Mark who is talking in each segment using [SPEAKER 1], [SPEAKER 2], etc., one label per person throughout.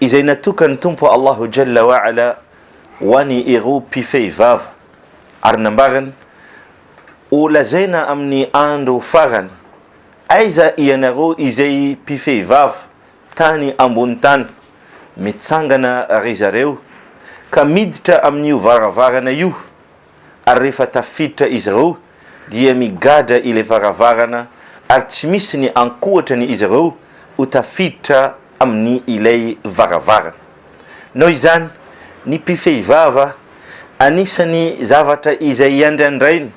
[SPEAKER 1] izay natokan'ny Tompo Allahu Jalla wa Ala ho any ireo mpifehy vava, ary nambarany, Ho lazaina amin'ny andro farany, Aiza ianareo izay mpifehy vava tany ambony tany? Mitsangana ry zareo ka miditra amin'io varavarana io. ary rehefa tafiditra izy ireo dia migadra ilay varavarana ary tsy misy ny ankoatra ny izy ireo ho tafiditra amin'ny ilay varavarana. Noho izany, ny mpifehy vava anisan'ny zavatra izay andrandraina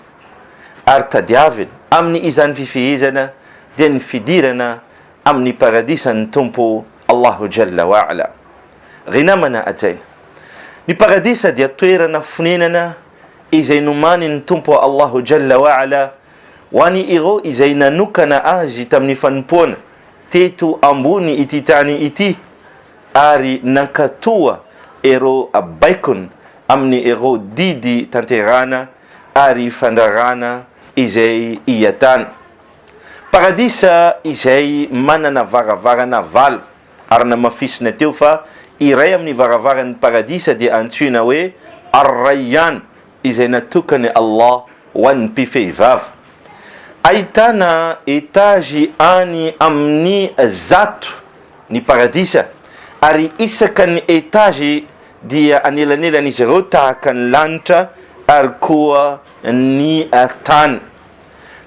[SPEAKER 1] ary tadiavina amin'ny izany fifehezana dia ny fidirana amin'ny paradisan'ny Tompo Allahu Jalla wa Ala. Ry namana hajaina, ny paradisa dia toerana fonenana izay nomanin'ny Tompo Allahu Jalla wa Ala ho any ireo izay nanokana azy tamin'ny fanompoana teto ambony ity tany ity ary nankatoa ireo baikony amin'ny ireo didy tanterahana ary fandrarana izay iatana. Paradisa izay manana varavarana valo, ary namafisina teo fa iray amin'ny varavaran'ny Paradisa dia antsoina hoe Ar-Rayyan, izay natokan'i Allah ho an'ny mpifehivava. Ahitana etazy any amin'ny zato ny Paradisa, ary isaka ny etazy dia anelanelan'izy ireo tahaka ny lanitra ary koa ny tany.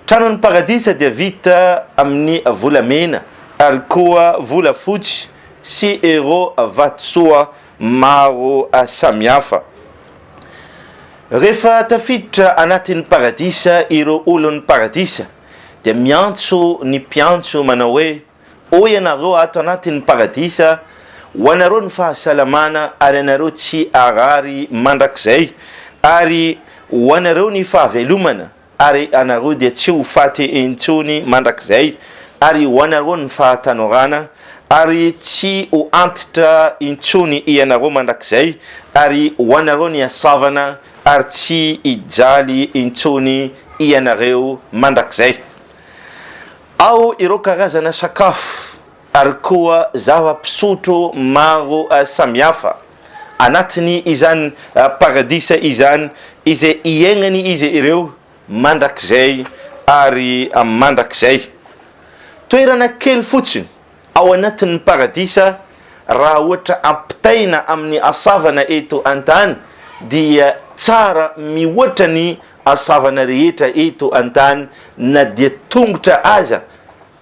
[SPEAKER 1] Tranon'ny Paradisa dia vita amin'ny volamena ary koa volafotsy sy ireo vatosoa maro samihafa. Rehefa tafiditra anatin'ny Paradisa ireo olon'ny Paradisa dia miantso ny mpiantso manao hoe. Hoy ianareo, Ato anatin'ny Paradisa ho anareo ny fahasalamana ary ianareo tsy harary mandrakizay, ary ho anareo ny fahavelomana ary ianareo dia tsy ho faty intsony mandrakizay, ary ho anareo ny fahatanorana ary tsy ho antitra intsony ianareo mandrakizay, ary ho anareo ny hasavana ary tsy hijaly intsony ianareo mandrakizay. Ao ireo karazana sakafo ary koa zava-pisotro maro samihafa, anatiny izany paradisa izany izay hiainany izy ireo mandrakizay ary mandrakizay. Toerana kely fotsiny ao anatin'ny paradisa raha ohatra ampitaina amin'ny hasavana eto an-tany dia tsara mihoatra ny hasavana rehetra eto an-tany na dia tongotra aza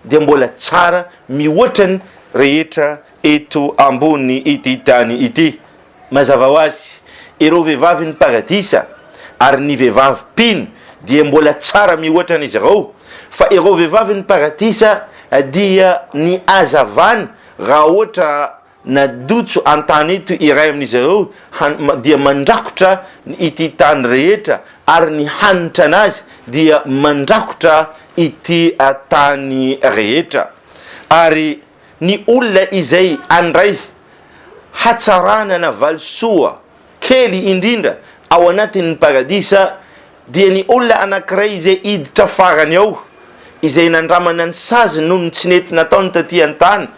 [SPEAKER 1] dia mbola tsara mihoatra ny rehetra eto ambony ity tany ity. Mazava ho azy, ireo vehivavin'ny Paradisa ary ny vehivavy mpino dia mbola tsara mihoatra an'izy ireo, fa ireo vehivavin'ny Paradisa dia ny hazavana raha ohatra nadotso an-tany eto iray amin'izy ireo dia mandrakotra ity tany rehetra ary ny hanitra an'azy dia mandrakotra ity tany rehetra ary ny olona izay handray hatsarana na valisoa kely indrindra ao anatin'ny Paradisa dia ny olona anankiray izay hiditra farany ao, izay nandramana ny saziny noho ny tsy nety nataony taty an-tany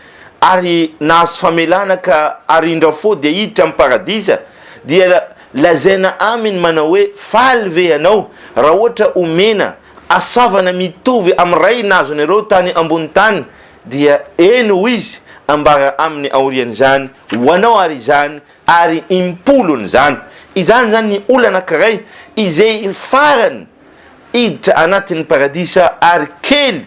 [SPEAKER 1] ary nahazo famelana ka ary indra fô dia hiditra amin'ny Paradisa dia lazaina aminy manao hoe faly ve ianao raha ohatra omena asavana mitovy amin'ny ray nazonareo tany ambony tany Dia eny ho izy ambara aminy aorian'izany ho anao ary izany ary im-polon'izany. Izany izany ny olona anankiray izay farany hiditra anatin'ny paradisa ary kely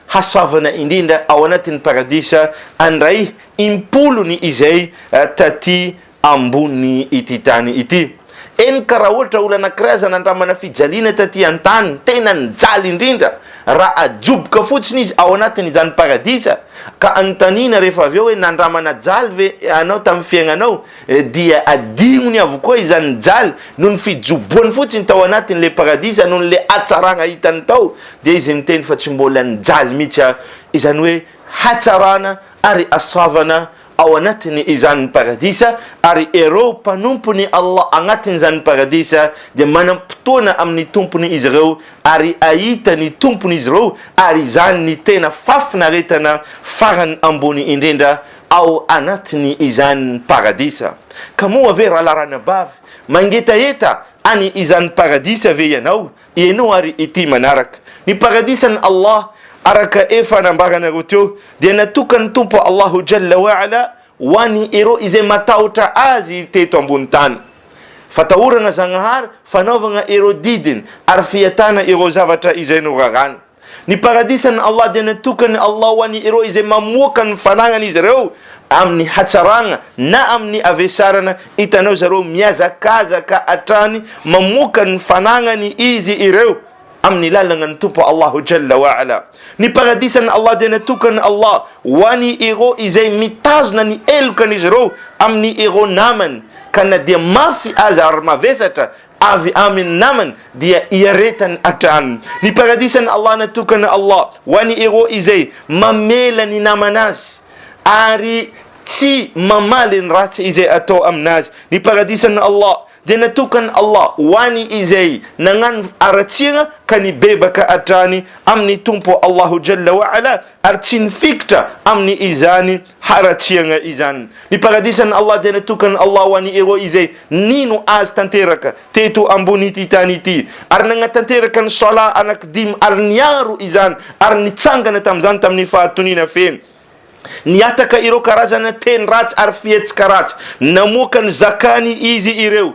[SPEAKER 1] hasoavana indrindra ao anatin'ny paradisa andray im-polony izay taty ambony ity tany ity. Eny ka raha ohatra olona anankiray aza nandramana fijaliana taty an-tany, tena nijaly indrindra, raha ajoboka fotsiny izy ao anatin' izany paradisa, ka anontaniana rehefa avy eo hoe nandramana jaly ve ianao tamin'ny fiainanao? dia adignony avokoa izany jaly noho ny fijoboany fotsiny tao anatin' ilay paradisa noho ilay hatsarana hitany tao, dia izy miteny fa tsy mbola nijaly mihitsy aho, izany hoe hatsarana ary hasoavana ao anatin' izany ny Paradisa, ary ireo mpanompon' i Allah agnatin' izany ny Paradisa dia manam-potoana amin' ny Tompon' izy ireo ary ahita ny Tompon' izy ireo, ary izany ny tena fahafinaretana farany ambony indrindra ao anatin' izany ny Paradisa. Ka moa ve, ralahy ranabavy, mangetaheta an' izany Paradisa ve ianao? Henoy ary ity manaraka. Ny Paradisan'i Allah, araka efa nambaranareo teo, dia natokan'ny Tompo Allahu Jalla wa Ala ho an'ny ireo izay matahotra Azy teto ambony tany. Fatahorana Zagnahary, fanaovagna ireo didiny ary fiatana ireo zavatra izay noraràny. Ny paradisan'i Allah dia natokan'i Allah ho an' ireo izay mamoaka ny fananan'izy ireo amin'ny hatsarana na amin'ny avesarana, hitanao zareo mihazakazaka hatrany mamoaka ny fananany izy ireo amin'ny lalanan'ny Tompo Allahu Jalla wa Ala. Ny paradisan'i Allah dia natokan'i Allah ho an' ireo izay mitazona ny helokan'izy ireo amin'ny ireo namany ka na dia mafy aza ary mavesatra avy amin ny namany dia iaretany hatrany ny paradisan Allah natokan Allah ho an ireo izay mamela ny namana azy ary tsy mamaly ny ratsy izay atao aminazy ny paradisan Allah dia natokan Allah ho an izay nagnano aratsira ka nibebaka hatrany amin ny Tompo Allahu Jalla wa Ala ary tsy nifikitra amin'ny izany haratsiagna izany. Ny paradisan'i Allah dia natokan'i Allah ho an'i ireo izay nino Azy tanteraka teto ambon'ity tany ity, ary nagnatanteraka ny Salat anakidimy ary niaro izany ary nitsangana tamin'izany tamin'ny fahatoniana feno. Nihataka ireo karazana teny ratsy ary fihetsika ratsy. Namoaka ny Zakany izy ireo.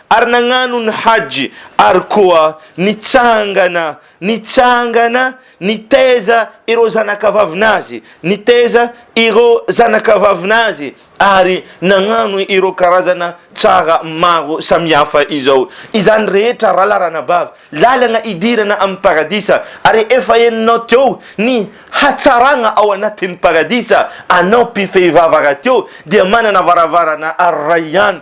[SPEAKER 1] ary nagnano ny Hajj ary koa nitsangana, nitsangana, nitaiza ireo zanakavavin'azy, nitaiza ireo zanakavavin'azy, ary nagnano ireo karazana tsara maro samihafa izao. Izany rehetra raha laranabavy, lalagna idirana amin'ny Paradisa, ary efa henonao teo ny hatsaragna ao anatin'ny Paradisa, anao mpifehivava rahateo dia manana varavarana Ar-Rayyan,